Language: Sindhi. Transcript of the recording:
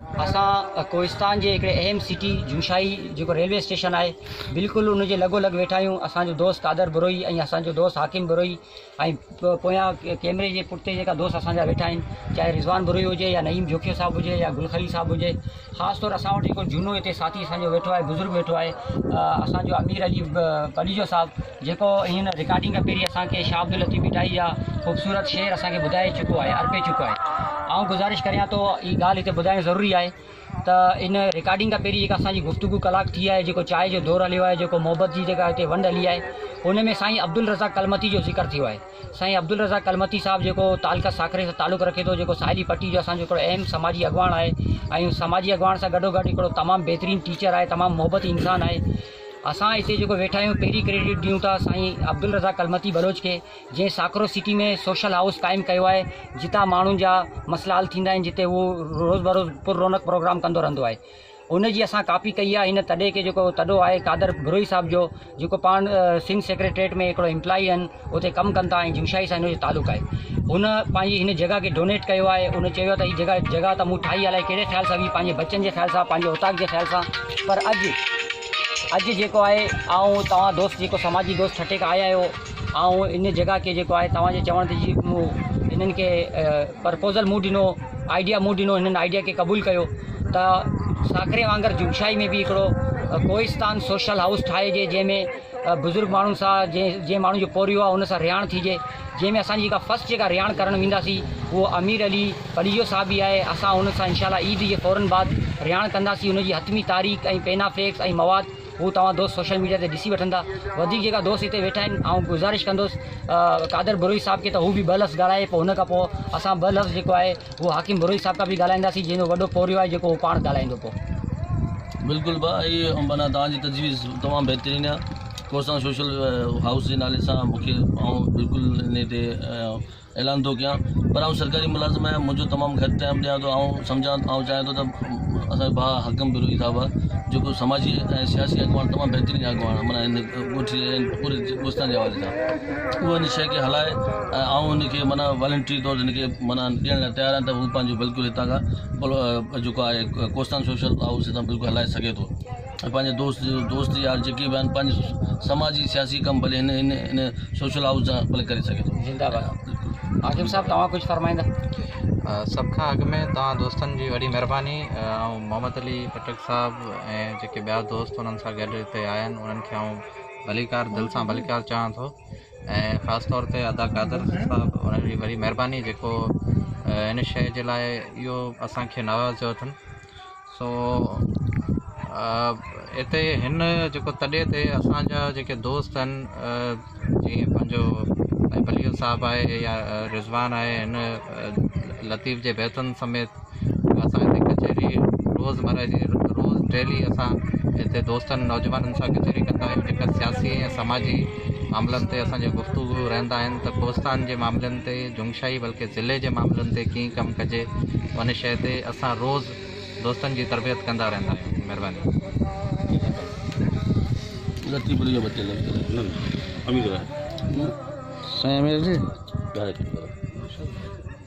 اسان ڪوهستان جي هڪڙي اهم سٽي جوشاهي جيڪو ريلوي اسٽيشن آهي بلڪل ان جي لڳو لڳ ويٺا آهيون اسان جو دوست قادر بروهي ۽ اسان جو دوست حاڪم بروهي ۽ پويان ڪيمري جي پٺتي جيڪا دوست اسان جا ويٺا آهن چاهي رضوان بروهي هجي يا نعيم جوکيو صاحب هجي يا گل خليل صاحب هجي خاص طور اسان وٽ جيڪو جهونو هتي ساٿي اسان جو ويٺو آهي بزرگ ويٺو آهي اسان جو امير علي پليجو صاحب جيڪو هن رڪارڊنگ کان پهرين اسان کي شاهه عبداللطيف ڀٽائي جا خوبصورت شعر اسان کي ٻڌائي چڪو آهي ارپي چڪو آهي آئون گذارش ڪريان ٿو هي ڳالهه هتي ٻڌائڻ ضروري آهي ته ان رڪارڊنگ کان پهرين جيڪا اسان جي گفتگو ڪلاڪ ٿي آهي جيڪو چائي جو دور هليو آهي جيڪو محبت جي جيڪا هتي ونڊ هلي آهي ان ۾ سائين عبدالرزاق ڪلمتي جو ذڪر ٿيو آهي سائين عبدالرزاق ڪلمتي صاحب جيڪو تعلقه ساکري سان تعلق رکي ٿو جيڪو ساحلي پٽي جو اسان جو هڪڙو اهم سماجي اڳواڻ آهي ۽ سماجي اڳواڻ سان گڏو گڏ هڪڙو تمام بهترين ٽيچر آهي تمام محبتي انسان آهي اسان اتي جيڪو ويٺا آهيون پهرين ڪريڊٽ ڏيون ٿا سائين عبدالرزاق ڪلمتي بلوچ کي جنهن ساڪرو سٽي ۾ سوشل هائوس قائم ڪيو آهي جتان ماڻهن جا مسئلا حل ٿيندا آهن جتي هو روز بروز پر رونق پروگرام ڪندو رهندو آهي ان جي اسان ڪاپي ڪئي آهي هن تڏي کي جيڪو تڏو آهي قادر بروهي صاحب جو جيڪو پاڻ سنڌ سيڪريٽريٽ ۾ هڪڙو امپلائي آهن اتي ڪم ڪن ٿا ۽ جمشائي سان هن جو تعلق آهي. هن پنهنجي هن جڳهه کي ڊونيٽ ڪيو آهي. هن چيو ته هي جڳهه جڳهه ته مون ٺاهي الائي ڪهڙي خيال سان هئي، پنهنجي بچن جي خيال سان، پنهنجي اوطاق جي خيال سان پر اڄ اڄ جيڪو آهي آئون توهان دوست جيڪو سماجي دوست ٺٽي کان آيا آهيو آئون ان جڳهه کي جيڪو آهي توهان جي چوڻ تي جي مون هنن کي پرپوزل مون ڏنو آئيڊيا مون ڏنو هنن آئيڊيا کي قبول ڪيو ته ساڪري وانگر جمشائي ۾ به هڪڙو ڪوهستان سوشل هائوس ٺاهجي جنهن ۾ بزرگ ماڻهن سان جنهن ماڻهن جو پورهيو آهي ان سان رهاڻ ٿيجي جنهن ۾ اسان جي جيڪا فرسٽ جيڪا رهاڻ ڪرڻ وينداسين اهو امير علي پليجو صاحب ئي آهي اسان ان سان انشاء الله عيد جي فورن بعد رهاڻ ڪنداسين ان جي حتمي تاريخ ۽ پينا فيڪس ۽ مواد هو توهان دوست سوشل ميڊيا تي ڏسي وٺندا وڌيڪ جيڪا دوست هتي ويٺا آهن آئون گذارش ڪندوس قادر بروهي صاحب کي ته هو به ٻه لفظ ڳالهائي پوء ان کان پوء اسان ٻه لفظ جيڪو آهي هو حاڪم بروهي صاحب کان به ڳالهائينداسين جنهن جو وڏو پورهيو آهي جيڪو هو پاڻ ڳالهائيندو پو. بلڪل ڀاء اهي معنيٰ توهان جي تجويز تمام بهترين آهي ڪوسان سوشل هائوس جي نالي سان مون کي آئون بلڪل انهي تي اعلان ٿو ڪيان پر آئون سرڪاري ملازم آهيان منهنجو تمام گهٽ ٽائيم ڏيان ٿو آئون سمجهان آئون چاهيان ٿو ته اسان جو ڀاء حاڪم بروهي صاحب آهي جيڪو سماجي ۽ سياسي اڳواڻ تمام بهترين اڳواڻ معنيٰ هن ڳوٺ جي ۽ پوري ڳوستان جي حوالي سان اهو ان شي کي هلائي ۽ آئون هن کي معنيٰ والنٽري طور هن کي معنيٰ ڏيڻ لاء تيار آهيان ته هو پنهنجو بلڪل هتان کان جيڪو آهي ڪوستان سوشل هائوس هتان بلڪل هلائي سگهي ٿو ۽ پنهنجي دوست دوست يار جيڪي به آهن پنهنجو سماجي سياسي ڪم ڀلي هن هن هن سوشل هائوس جا ڀلي ڪري سگهي ٿو زنده باد حاڪم صاحب توهان ڪجهه فرمائيندا سڀ کان اڳ ۾ توهان دوستن جي وڏي مهرباني آئون محمد علي خٽڪ صاحب ۽ جيڪي ٻيا دوست انهن سان گڏ هتي آيا آهن انهن کي آئون ڀليڪار دل سان ڀليڪار چاهان ٿو ۽ خاص طور تي ادا قادر صاحب انهن جي وڏي مهرباني جيڪو ان شيء جي لاء اهو اسانکي ناراض ٿيو اٿن سو اتي هن جيڪو تڏي تي اسانجا جيڪي دوست آهن جيئن پنهنجو بليل صاحب آهي يا رضوان آهي هن لطيف جي بيتن سميت اسان هتي ڪچهري روزمره جي روز ڊيلي اسان هتي دوستن نوجوانن سان ڪچهري ڪندا آهيون جيڪا سياسي ۽ سماجي معاملن تي اسان جا گفتگو رهندا آهن ته ڪوستان جي معاملن تي جنگشاهي بلڪه ضلعي جي معاملن تي ڪيئن ڪم ڪجي ان شيء تي اسان روز دوستن جي تربيت ڪندا رهندا آهيون مهرباني